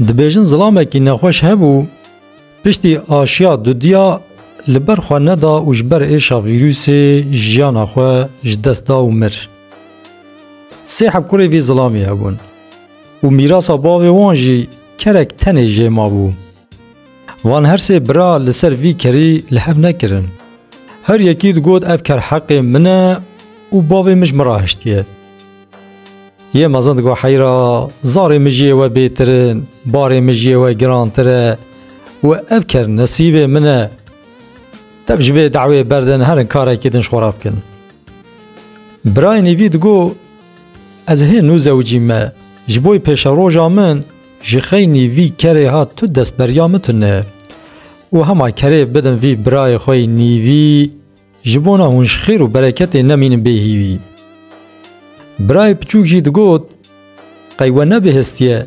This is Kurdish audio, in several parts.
Dibêjin zilamekî nexweş hebû, piştî aşiya dudiya li ber xwe neda û ji ber êşa vîrûsê jiyana xwe ji dest da û mir. Sê hevkurê vî zilamî hebûn û mîrasa bavê wan jî kerek tenê jê mabû. Van her sê bira li ser vî kerî li hev nekirin. Her yekî digot ev ker heqê min e û bavê min ji min rahiştiye. Yê mezin digot heyra zarê min jiyê we bêtir in, barê min jiyê we girantir e û ev ker nesîbê min e. Tev ji vê dawê berdin herin karekî din ji xwe re bikin. Birayê nîvî digot ez hê nû zewicî me, ji bo pêşeroja min Ji xeynî vî kerê hat tu dest beriya min tune. Û hema kerê bidin vî birayê xwe yî nîvî, ji bona hûn ji xêr û bereketê nemînin bê hîvî. Birayê piçûk jî digot, Qey we ne bihestiye,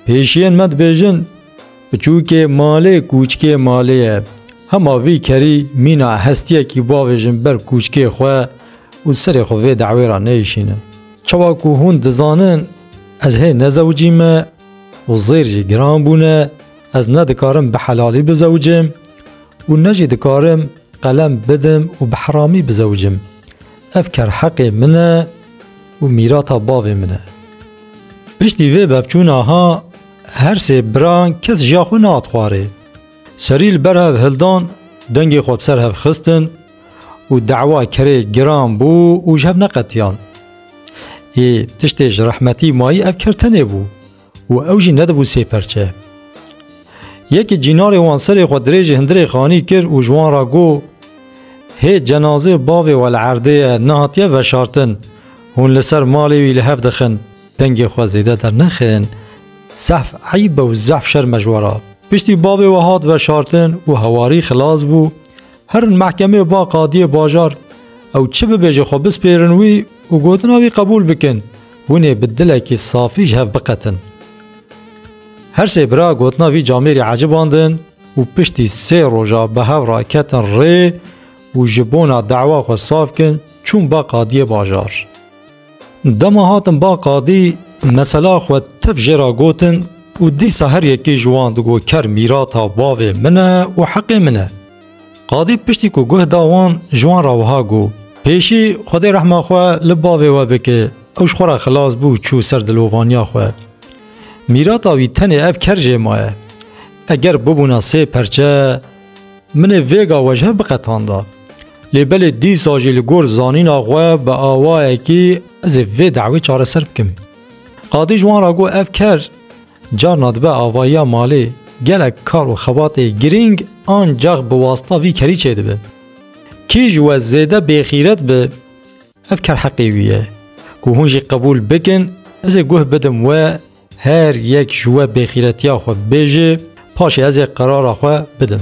pêşiyên me dibêjin, Piçûkê malê kûçkê malê ye. Hema vî kerî mîna hestiyekî bavêjin ber kûçkê xwe û serê xwe vê dawê ra neyişînin. Çawa ku hûn dizanin, Ez hê nezewicî me û zêr jî giran bûne ez ne dikarim bi helalî bizewicim û ne jî dikarim qelem bidim û bi heramî bizewicim. Ev ker heqê min e û mîrata bavê min e. Piştî vê bevçûna ha her sê biran kes jiya xwe nehat xwarê. Serî li ber hev hildan dengê xwe bi ser hev xistin, û dewa kerê giran bû û ji hev neqetiyan. Yê tiştê ji rehmetî mayî ev ker tenê bû û ew jî nedibû sê perçe. Yekê cînarê wan serê xwe dirêjî hindirê xanî kir û ji wan re got, Hê cenazê bavê we li erdê ye nehatiye veşartin, hûn li ser malê wî li hev dixin. Dengê xwe zêde dernexin, zehf eyb e û zehf şerm e ji we re. Piştî bavê we hat veşartin û hewarî xilas bû. Herin mehkemê ba qadiyê bajar ew çi bibêje xwe bispêrin wî û gotina wî qebûl bikin, hûn ê bi dilekî safî ji hev biqetin. Her sê bira gotina vî camêrî ecibandin û piştî sê roja bi hev re ketin rê û ji bona dewa xwe saf kin çûn ba qadiyê bajar. Dema hatin ba qadî mesela xwe tev jê re gotin û dîsa her yekê ji wan digot ker mîrata bavê min e û heqê min e. Qadî piştî ku guh da wan ji wan re wiha got, Pêşî Xwedê rehma xwe li bavê we bike, ew ji xwe re xilas bû û çû ser dilovaniya xwe. Mîrata wî tenê ev ker jê maye. Eger bibûna sê perçe, Min ê vêga wejhev biqetanda. Lê belê dîsa jî li gor zanîna xwe bi awayekî ez ê vê dawê çareser bikim. Qadî ji wan re got ev ker carna dibe avayiya malê gelek kar û xebatê girîng ancax bi wasta vî kerî çêdibe. Kî ji we zêde bêxîret be ev ker heqê wî ye. Ku hûn jî qebûl bikin ez ê guh bidim we Her yek ji we bêxîretiya xwe bibêje, paşê ez ê qerara xwe bidim.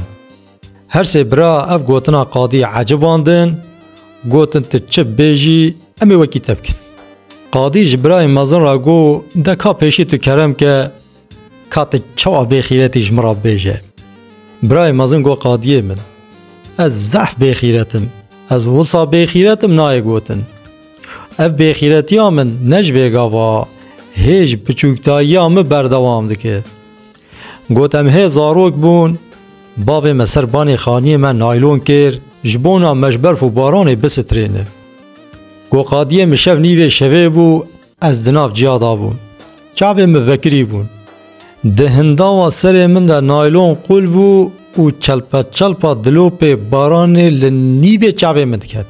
Her sê bira ev gotina qadî ecibandin, gotin tu çi bibêjî em ê wekî te bikin. Qadî ji birayên mezin re got, De ka pêşî tu kerem ke, ka tu çawa bêxîretî ji min re bibêje. Birayê mezin got qadiyê min, Ez zehf bêxîret im, ez wisa bêxîret im nayê gotin. Ev bêxîretiya min ne ji vê gava hêj piçûktayiya min berdewam dike. Got em hê zarok bûn, bavê me ser banê xaniyê me naylon kêr ji bona me ji berf û baranê bisitirêne. Got qadiyê min şev nîvê şevê bû ez di nav ciya de bûm. Çavên min vekirî bûn. Di hindawa serê min de naylon qûl bû û çelpeçelpa dilopê baranê li nîvê çavê min diket.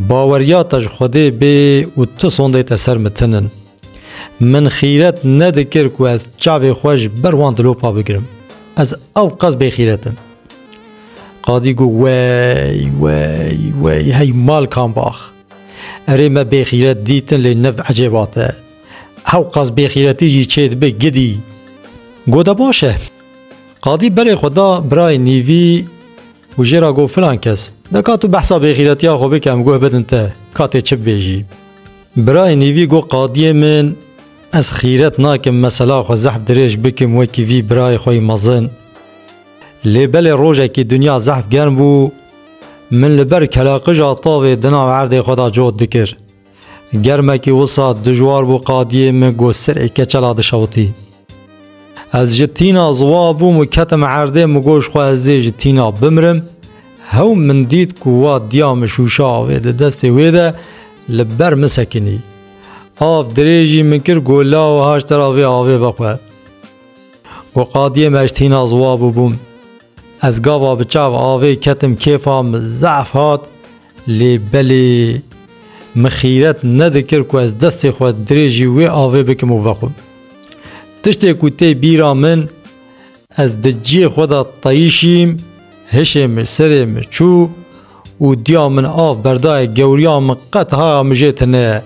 Baweriya te ji Xwedê bê û tu sondeyê te ser min tinin. Min xîret nedikir ku ez çavê xwe ji ber wan dilopa bigirim. Ez ewqas bêxîret im. Qadî got, Wey, wey, wey, hey malkan bax! Erê me bêxîret dîtin lê niv ecêba te. Hewqas bêxîretî jî çêdibe gidî. Got, De baş e. Qadî berê xwe da birayê nîvî. Û jê ra got filan kes, De ka tu behsa bêxîretiya xwe bike em guh bidin te, ka tê çi bibêjî. Birayê nîvî got Qadiyê min ez xîret nakim mesela xwe zehf dirêj bikim wekî vî birayê xwe yî mezin. Lê belê rojekî dinya zehf germ bû, min li ber kelaqija tavê di nav erdê xwe de cot dikir. Germekî wisa dijwar bû qadiyê min got serê keçela dişewitî. Ez ji tîna ziwa bûm û ketim erdê min got ji xwe ez ê ji tîna bimirim. Hew min dît ku wa diya min şûşa avê di destê wê de li ber min sekinî. Av dirêjî min kir gola û haştera vê avê ve xwe. Û qadiyê me ji tîna ziwa bûbûm. Ez gava bi çav avê ketim kêfa min zehf hat lê belê min xîret nedikir ku ez destê xwe dirêjî wê avê bikim û vexwim. Tiştê ku tê bîra min ez di ciyê xwe de teyişîm, hişê min serê min çû, û diya min av berdayê gewriya min qet haya min jê tune ye.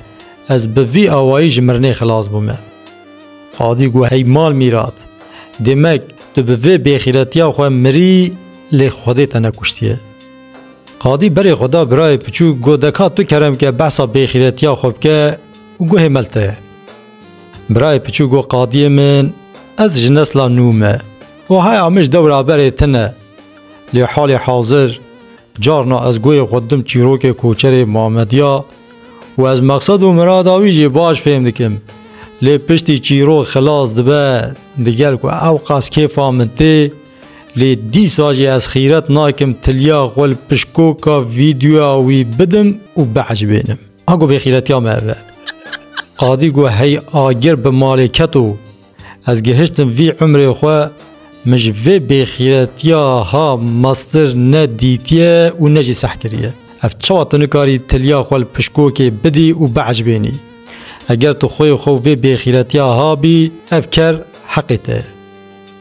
Ez bi vî awayî ji mirinê xilas bûme. Qadî got hey mal mîrat, demek tu bi vê bêxîretiya xwe mirî lê Xwedê te nekuştiye. Qadî berê xwe da birayê piçûk got deka tu kerem ke behsa bêxîretiya xwe bike û guhê mel te ye. Birayê piçûk got qadiyê min ez ji nesla nû me û haya min ji dewra berê tune. Lê halê hazir carna ez guhê xwe didim çîrokê koçerê Mamediya û ez mexsed û mirada wî jî baş fêm dikim. Lê piştî çîrok xilas dibe digel ku ew qas kêfa min tê lê dîsa jî ez xîret nakim tiliya xwe li pişkoka vîdyoya wî bidim û biecibênim. Ango bêxîretiya me ev e. Qadî got hey agir bi malê keto. Ez gihiştim vî umrê xwe min ji vê bêxîretiya ha mastir ne dîtiye û ne jî seh kiriye. Ev çawa tu nikarî tiliya xwe li pişkokê bidî û biecbênî. Eger tu xwê xwe vê bêxîretiya ha bî ev ker heqê te ye.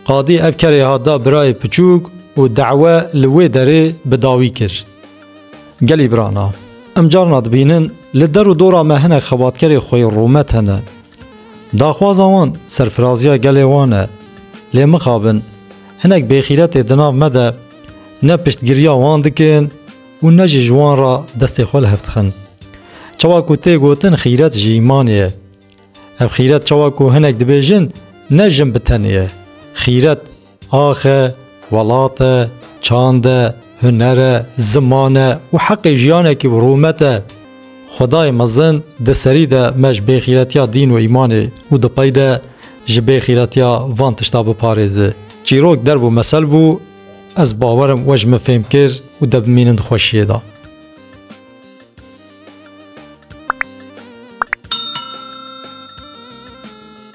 Qadî ev kerê ha da birayê piçûk û dewe li wê derê bi dawî kir. Gelî birana, em carna dibînin li der û dora me hinek xebatkerê xwêrûmet hene. Daxwaza wan serfiraziya gelê wan e. Lê mixabin, hinek bêxîretê di nav me de ne piştgiriya wan dikin û ne jî ji wan re destê xwe li hev dixin. Çawa ku tê gotin xîret ji îmanê ye. Ev xîret çawa ku hinek dibêjin ne jin bi tenê ye. Xîret. Ax e, welat e, çand e, huner e, ziman e û heqê jiyanekî bi rûmet e. Xwedayê mezin di serî de me ji bêxîretiya dîn û îmanê û di pey de ji bêxîretiya van tişta biparêze. Çîrok derb û mesel bû, ez bawer im we ji min fêm kir û de bimînin di xweşiyê de.